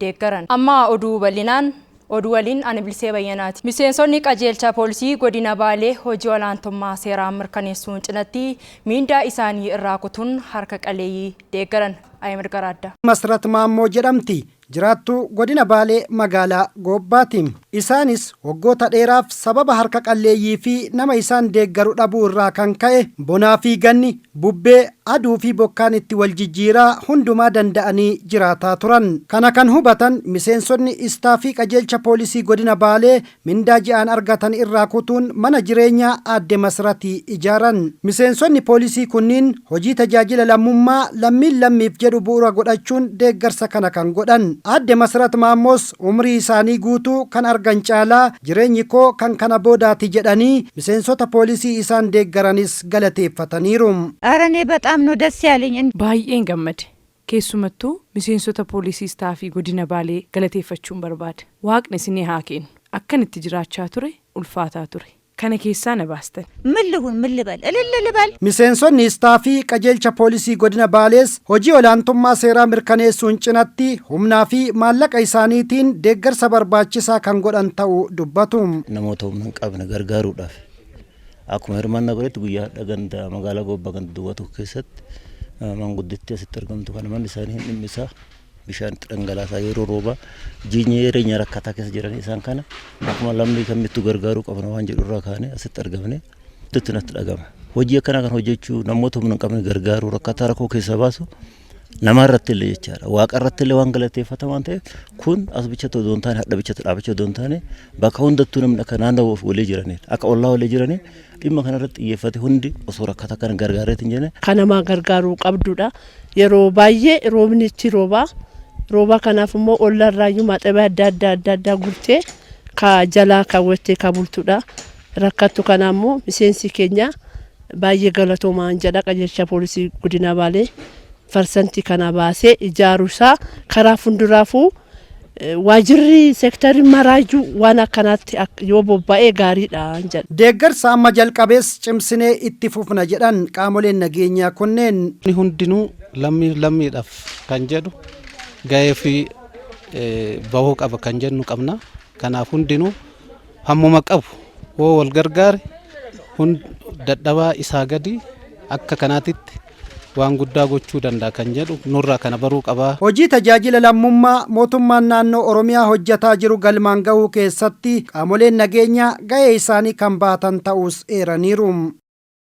deeggaran. Amma oduu bal'inaan. Oduu waliin ani Bilisee Bayyanaati. Miseensonni Qajeelcha Poolisii Godina Baalee hojii olaantummaa seeraa mirkaneessuun cinatti miindaa isaanii irraa kutuun harka qaleeyyii deeggaran. Ahimad Garaaddaa. Masrat Maammoo jedhamti. Jiraattuu Godina Baalee Magaalaa Goobbaati. Isaanis waggoota dheeraaf sababa harka qalleeyyii fi nama isaan deeggaru dhabuu irraa kan ka'e bonaa fi ganni, bubbee, aduu fi bokkaan itti wal jijjiiraa hundumaa danda'anii jiraataa turan. Kana kan hubatan miseensonni istaafii qajeelcha poolisii godina Baalee mindaa ji'aan argatan irraa kutuun mana jireenyaa aadde Masrati ijaaran. Miseensonni poolisii kunniin hojii tajaajila lammummaa lammiin lammiif jedhu bu'ura godhachuun deeggarsa kana kan godhan. Aadde Masrat Maammoos Umrii isaanii guutuu kan argan caalaa jireenyi koo kan kana boodaati jedhanii miseensota poolisii isaan deeggaranis galateeffataniiru. Ere ne baxaam no das yaleny in. Baay'een gammade. Keessumattuu miseensota poolisii istaafii godina Baalee galateeffachuun barbaada. Waaqni isinii haa keennu. Akkan itti jiraachaa ture ulfaataa ture. kana keessaa na baastan. Min lihun min libal ililli libal. Miseensonni Istaafii Qajeelcha Poolisii Godina Baalees hojii olaantummaa seeraa mirkaneessuun cinatti humnaa fi maallaqa isaaniitiin deeggarsa barbaachisaa kan godhan ta'u dubbatu. Namoota humna hin qabne gargaaruudhaaf akkuma hirmaannaa godhetti guyyaa hadha ganda magaalaa Goobba ganda duwwaa tokko keessatti maanguddittii asitti argamtu kana manni isaanii hin dhimmisaa bishaan itti dhangalaasaa yeroo roobaa jireenya jireenya rakkataa keessa jiran isaan kana akkuma lammii kamittuu gargaaruu qabna waan jedhu irraa kaanee asitti argamne itti natti dhagama. Hojii akkanaa kan hojjechuu namoota humna hin qabne gargaaruu rakkataa rakkoo keessaa baasu namaa irratti illee jechaadha. Waaqa irratti illee waan galateeffata waan ta'eef kun as bichatti odoo hin taane hadha bichatti dhaabachuu odoo hin taane bakka hundattuu namni akka naannoo walii jiraniidha. Akka ollaa walii jiranii Dhimma kana irratti xiyyeeffate hundi osoo rakkata kana gargaareetti hin jenne. Kan namaa gargaaruu qabdudha. Yeroo baay'ee roobni ichi roobaa. Roobaa kanaaf immoo olla irraayyuu maxabee adda addaa adda addaa gurtee ka jalaa kaawwattee ka bultudha. Rakkattu kana immoo miseensi keenya baay'ee galatoomaa jedha qajeelcha poolisii godina Baalee. parsantii kana baasee ijaaru isaa karaa funduraafuu waajirri seektarri maraayyuu waan akkanaatti yoo bobba'ee gaariidha jedha. Deeggarsa amma jalqabees cimsinee itti fufna jedhan qaamoleen nageenyaa kunneen. Namni hundinuu lammiif lammiidhaaf kan jedhu gahee ofii bahuu qaba kan jennu qabna. Kanaaf hundinuu. Hammuma qabu hoo wal gargaare kun dadhabaa isaa gadi akka kanaatitti waan guddaa gochuu danda'a kan jedhu nurraa kana baruu qaba. Hojii tajaajila lammummaa mootummaan naannoo Oromiyaa hojjataa jiru galmaan gahuu keessatti qaamoleen nageenyaa gahee isaanii kan bahatan ta'uus eeraniiru.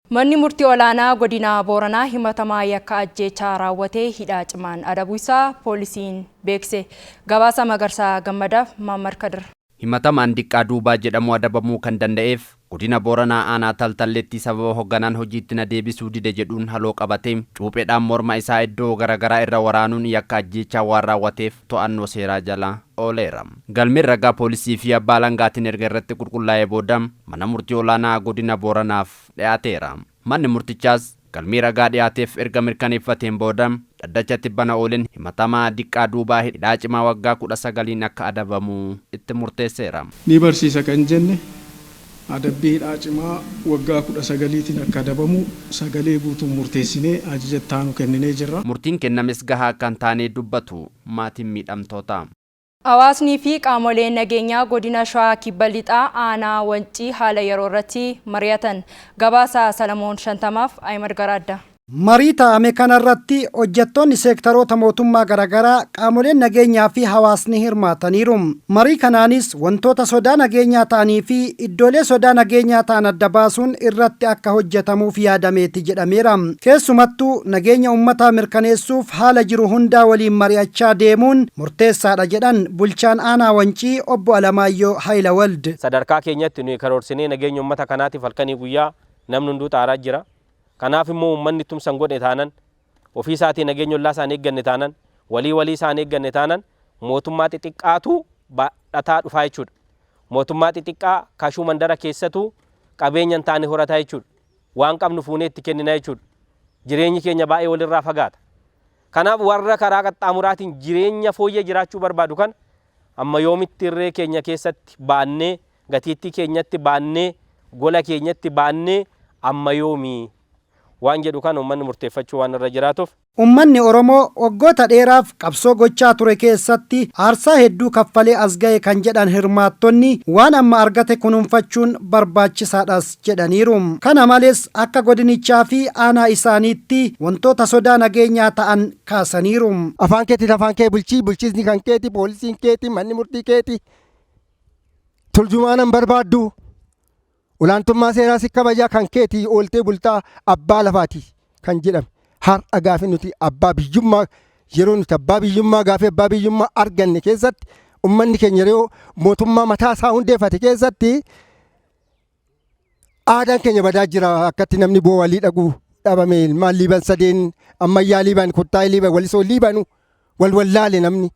Manni Murtii Olaanaa Godina Booranaa himatamaa yakka ajjeechaa raawwatee hidhaa cimaan adabuu isaa poolisiin beeksise. Gabaasa Magarsaa Gammadaaf, Mahammad Kadir. Himatamaan Diqqaa Duubaa jedhamu adabamuu kan danda'eef Godina Booranaa Aanaa Taltalleetti sababa hogganaan hojiitti na deebisuu dide jedhuun haloo qabatee cuupheedhaan morma isaa iddoo gara garaa irra waraanuun yakka ajjeechaa waan raawwateef to'annoo seeraa jala ooleera. Galmeen ragaa poolisii fi abbaa alangaatiin erga irratti qulqullaa'ee booda mana murtii olaanaa godina Booranaaf dhiyaateera. Manni murtichaas galmee ragaa dhiyaateef erga mirkaneeffateen booda dhaddacha tibbana oolen himatamaa Diqqaa Duubaa hidhaa cimaa waggaa 19n akka adabamu itti murteesseera. Ni barsiisa kan jenne adabbii hidhaa cimaa waggaa 19tiin akka adabamu sagalee guutuun murteessinee ajaja itti aanu kenninee jirra. Murtiin kennames gahaa akka hin taane dubbatu maatiin miidhamtootaa. Hawaasnii fi qaamoleen nageenyaa Godina Shawaa Kibba Lixaa Aanaa Wancii haala yeroo irratti mari'atan. Gabaasa Salamoon Shantamaaf Ahimad Garaaddaa. Marii taa'ame kanarratti hojjettoonni seektaroota mootummaa garagaraa, qaamoleen nageenyaa fi hawaasni hirmaataniiru. Marii kanaanis wantoota sodaa nageenyaa ta'anii fi iddoolee sodaa nageenyaa ta'an adda baasuun irratti akka hojjetamuuf yaadameeti jedhameera. Keessumattuu nageenya ummataa mirkaneessuuf haala jiru hundaa waliin mari'achaa deemuun murteessaadha jedhan bulchaan aanaa Wancii obbo Alamaayyoo Hayilawald. Sadarkaa keenyatti nuyi karoorsinee nageenya ummata kanaatiif halkanii guyyaa namni hunduu xaaraa jira. Kanaaf immoo uummanni tumsa hin godhne taanan, ofii isaatii nageenya ollaa isaa hin eegganne taanan, walii walii isaa hin eegganne taanan mootummaa xixiqqaatu baadhataa dhufaa jechuudha. Mootummaa xixiqqaa kashuu mandara keessatuu qabeenya hin taane horataa jechuudha. Waan qabnu fuunee itti kennina jechuudha. Jireenyi keenya baay'ee walirraa fagaata. Kanaaf warra karaa qaxxaamuraatiin jireenya fooyyee jiraachuu barbaadu kana amma yoomitti irree keenya keessatti baannee Gatiittii keenyatti baannee, gola keenyatti baannee amma yoomi? Waan jedhu kana ummanni murteeffachuu waan irra jiraatuuf. Ummanni Oromoo waggoota dheeraaf qabsoo gochaa ture keessatti aarsaa hedduu kaffalee as gahe kan jedhan hirmaattonni, waan amma argate kunuunfachuun barbaachisaadhas jedhaniiru. Kana malees akka godinichaa fi aanaa isaaniitti wantoota sodaa nageenyaa ta'an kaasaniiru. Afaan keetiin afaan kee bulchi, bulchiisni kan keeti, poolisiin keeti, manni murtii keeti. Turjumaana hin barbaaddu. Olaantummaa seeraa si kabajaa kan keetii ooltee bultaa abbaa lafaati kan jedhame. Har'a gaafi nuti abbaa biyyummaa yeroo nuti abbaa biyyummaa gaafi abbaa biyyummaa arganne keessatti ummanni keenya yeroo mootummaa mataa isaa hundeeffate keessatti aadaan keenya badaa jira akkatti namni boo walii dhaqu dhabame ilmaan liiban sadeen ammayyaa liiban kottaa'ee liiban walisoo liibanu wal wallaale namni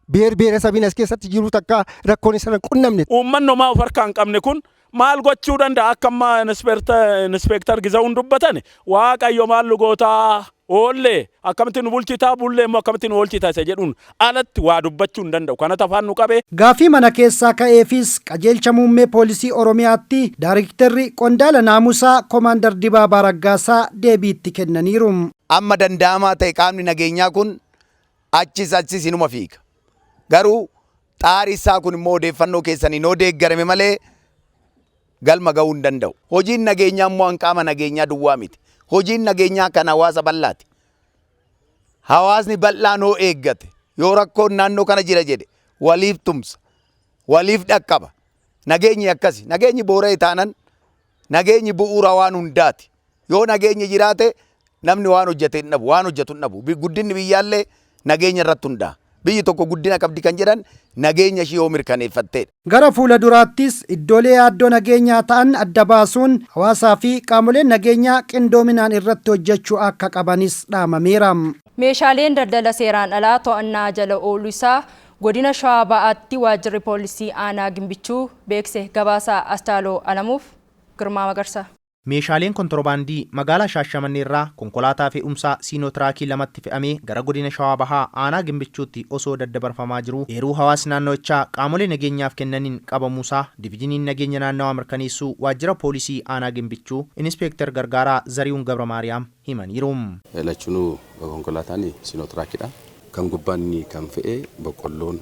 beer beera sabiin as keessatti jiru takka rakkoon isa qunnamne. Uummanni homaa of harkaa hin qabne kun maal gochuu danda'a akka amma inispeektar Gizaawuun dubbatan waaqayyo maal nu gootaa Oolle akkamitti nu bulchita, bulle immoo akkamitti nu oolchita isa jedhuun alatti waa dubbachuu hin danda'u. Kanatu afaan nu qabe. Gaaffii mana keessaa ka'eefis Qajeelcha Muummee Poolisii Oromiyaatti Daarikterri Qondaala Naamusaa Komaandar Dibaabaa Raggaasaa deebii itti kennaniiru. Amma danda'amaa ta'e qaamni nageenyaa kun achis achis inuma fiiga. Garuu xaari isaa kun immoo odeeffannoo keessaniin yoo deeggarame malee, galma gahuu hin danda'u. Hojiin nageenyaa immoo kan qaama nageenyaa duwwaa miti. Hojiin nageenyaa kan hawaasa bal'aati. Hawaasni bal'aan hoo eeggate, yoo rakkoon naannoo kana jira jedhe waliif tumsa, waliif dhaqqaba. Nageenyi akkasi. Nageenyi boora'e taanan nageenyi bu'uura waan hundaati. Yoo nageenyi jiraate namni waan hojjate hin dhabu, waan hojjatu hin dhabu. Bi- Guddinni biyyaallee nageenya irratti hundaa'a. Biyyi tokko guddina qabdi kan jedhan nageenya ishii yoo mirkaneeffatteedha. Gara fuula duraattis iddoolee yaaddoo nageenyaa ta'an adda baasuun hawaasaa fi qaamoleen nageenyaa qindoominaan irratti hojjechuu akka qabanis dhaamameera. Meeshaaleen daldala seeraan alaa to'annaa jala ooluu isaa Godina Shawaa Bahaatti Waajjirri Poolisii Aanaa Gimbichuu beekse. Gabaasa Astaaloo Alamuuf Girmaa Magarsaa. Meeshaaleen kontorobaandii magaalaa Shaashamanneerraa konkolaataa fe'umsaa Siinotiraakii lamatti fe'amee gara godina Shawaa Bahaa aanaa Gimbichuutti osoo daddabarfamaa jiruu eeruu hawaasni naannawichaa qaamolee nageenyaaf kennaniin qabamuusaa Divijiniin Nageenya Naannawaa Mirkaneessuu Waajjira Poolisii Aanaa Gimbichuu Inispeektar Gargaaraa Zarihuun Gabramaariyaam himaniiru. Lachunuu konkolaataan Siinotiraakidha. Kan gubbaa inni kan fe'e boqqolloon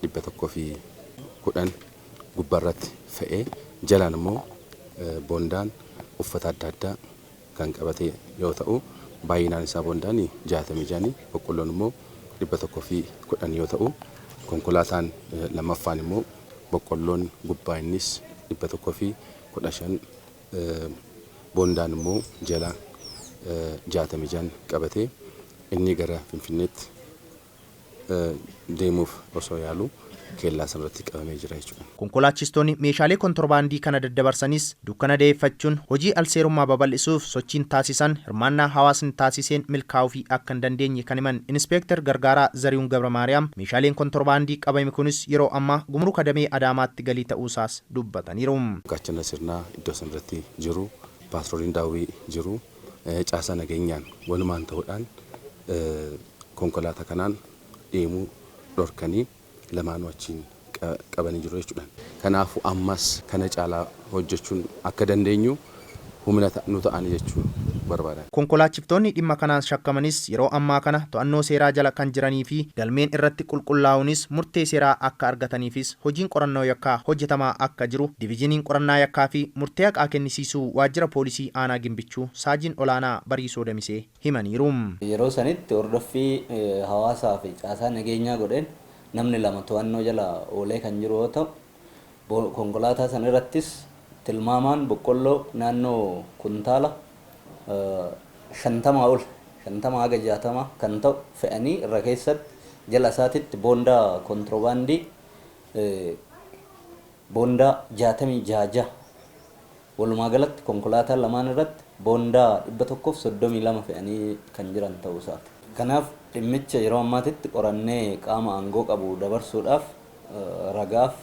110, gubbarratti fe'ee jalaan immoo bondaan uffata adda addaa kan qabate yoo ta'u baay'inaan isaa bondaan 66 boqqolloon immoo 110 yoo ta'u konkolaataan lammaffaan immoo boqqolloon gubbaa innis 115 bondaan immoo jala 66 qabate inni gara Finfinneetti deemuuf osoo yaaluu keellaa sanarratti qabamee jira jechuudha. Konkolaachistoonni meeshaalee kontorbaandii kana daddabarsanis dukkana da'eeffachuun hojii alseerummaa babal'isuuf sochiin taasisan hirmaannaa hawaasni taasiseen milkaa'uufii akka hin dandeenye kan himan Inispeektar Gargaaraa Zarihun Gabramaariyaam, meeshaaleen kontorbaandii qabame kunis yeroo ammaa Gumuruka Damee Adaamaatti galii ta'uusaas dubbataniiru. Gaachana Sirnaa iddoo sanarratti jiru, paatrooliin daawwii jiru. caasaa nageenyaan walumaan ta'uudhaan konkolaataa kanaan deemuu dhorkanii lamaanuu achiin qabanii jiru jechuudhaan. Kanaafuu ammas kana caalaa hojjechuun akka dandeenyu humna nu ta'ani jechuu barbaadan. Konkolaachiftoonni dhimma kanaan shakkamanis yeroo ammaa kana to'annoo seeraa jala kan jiranii fi galmeen irratti qulqullaa'uunis murtee seeraa akka argataniifis hojiin qorannoo yakkaa hojjetamaa akka jiru Divizhiniin Qorannaa Yakkaa fi Murtee Haqaa Kennisiisuu Waajjira Poolisii Aanaa Gimbichuu Saajiin Olaanaa Bariisoo Damisee himaniiru. Yeroo sanitti hordoffii hawaasaa fi caasaa nageenyaa godheen namni lama to'annoo jala oolee kan jiru yoo ta'u, konkolaataa san irrattis tilmaamaan boqqolloo naannoo kuntaala. 50 ol, 50-60, kan ta'u fe'anii irra keessatti jala isaatitti boondaa kontirobaandii boondaa 66 jaha, walumaa galatti konkolaataa lamaan irratti boondaa 132 fe'anii kan jiran ta'uu isaati. Kanaaf dhimmicha yeroo ammaatitti qorannee qaama aangoo qabu dabarsuudhaaf ragaaf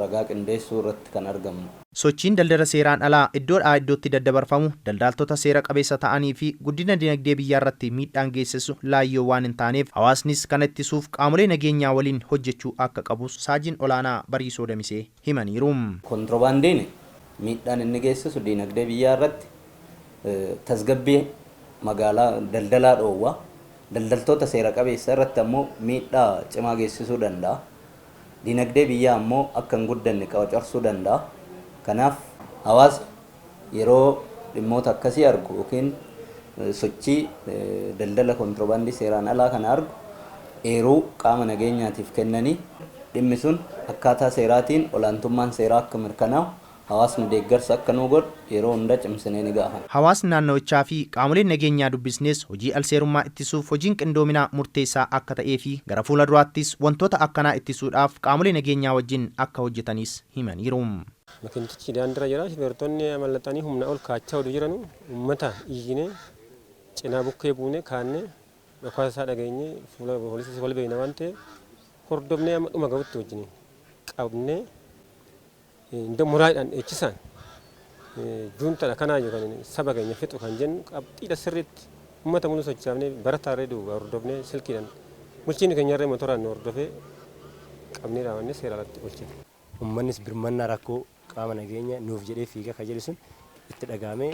ragaa qindeessuu irratti kan argamnu. Sochiin daldala seeraan alaa iddoo dhaa iddootti daddabarfamu daldaaltota seera qabeessa ta'anii fi guddina dinagdee biyyaa irratti miidhaan geessissu laayyoo waan hin taaneef hawaasnis kana ittisuuf qaamolee nageenyaa waliin hojjechuu akka qabus Saajin Olaanaa Bariisoo Damisee himaniiru. Kontirobaandiin miidhaan inni geessisu dinagdee biyyaa irratti tasgabbii magaalaa daldalaa dhoowwa, daldaltoota seera qabeessa irratti ammoo miidhaa cimaa geessisuu danda'a. Dinagdee biyyaa ammoo akka hin guddanne qaocarsuu danda'a. Kanaaf hawaasni yeroo dhimmoota akkasii argu ykn sochii daldala kontirobaandii seeraan alaa kana argu eeruu qaama nageenyaatiif kennanii dhimmi sun akkaataa seeraatiin olaantummaan seeraa akka mirkanaa'u Hawaasni deeggarsa akka nuu godhu yeroo hunda cimsinee ni gaafanna. Hawaasni naannawichaa fi qaamoleen nageenyaa dubbisnes hojii alseerummaa ittisuuf hojiin qindoominaa murteessaa akka ta'ee fi gara fuula duraattis wantoota akkanaa ittisuudhaaf qaamolee nageenyaa wajjin akka hojjetanis himaniiru. Makinichichi daandirra jira shufeertonni amallaxanii humna ol kaachaa utuu jiranu ummata iyyinee cinaa bukkee buunee kaanne dhokaasa isaa dhageenye fuula poolisiis wal beekna waan ta'eef hordofnee amma dhuma gahutti wajjiniin qabnee Inda muraidhan dheechisaan juuntadha kanaayyu kan saba keenya fixu kan jennu qabxiidha sirriitti ummata muluu sochaafne barataarree duuba hordofne silkiidhan bulchiinni keenyarree motoraan nu hordofee qabnee dhaabannee seera alatti olchine. Ummannis birmannaa rakkoo qaama nageenya nuuf jedhee fiiga ka jedhu sun itti dhagahamee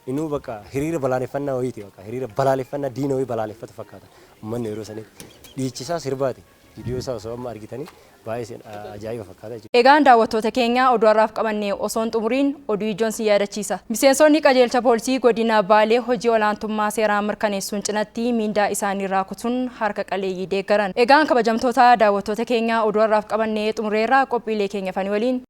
Inuu bakka hiriira balaaleffannaa wayiiti bakka hiriira balaaleffannaa diina wayii balaaleffatu fakkaata ummanni yeroo sanitti. Dhiichisaa sirbaati viidiyoo isaa osoo amma argitanii baay'ee ajaa'iba fakkaata jechuudha. Egaan daawwattoota keenya oduu har'aaf qabanne osoo hin xumuriin oduu ijoon sin yaadachiisa. Miseensonni qajeelcha poolisii godina Baalee hojii olaantummaa seeraa mirkaneessuun cinatti miindaa isaanii irraa kutuun harka qaleeyyii deeggaran. Egaan kabajamtoota daawwattoota keenya oduu har'aaf qabanne xumureerra qophiilee keenya hafanii waliin.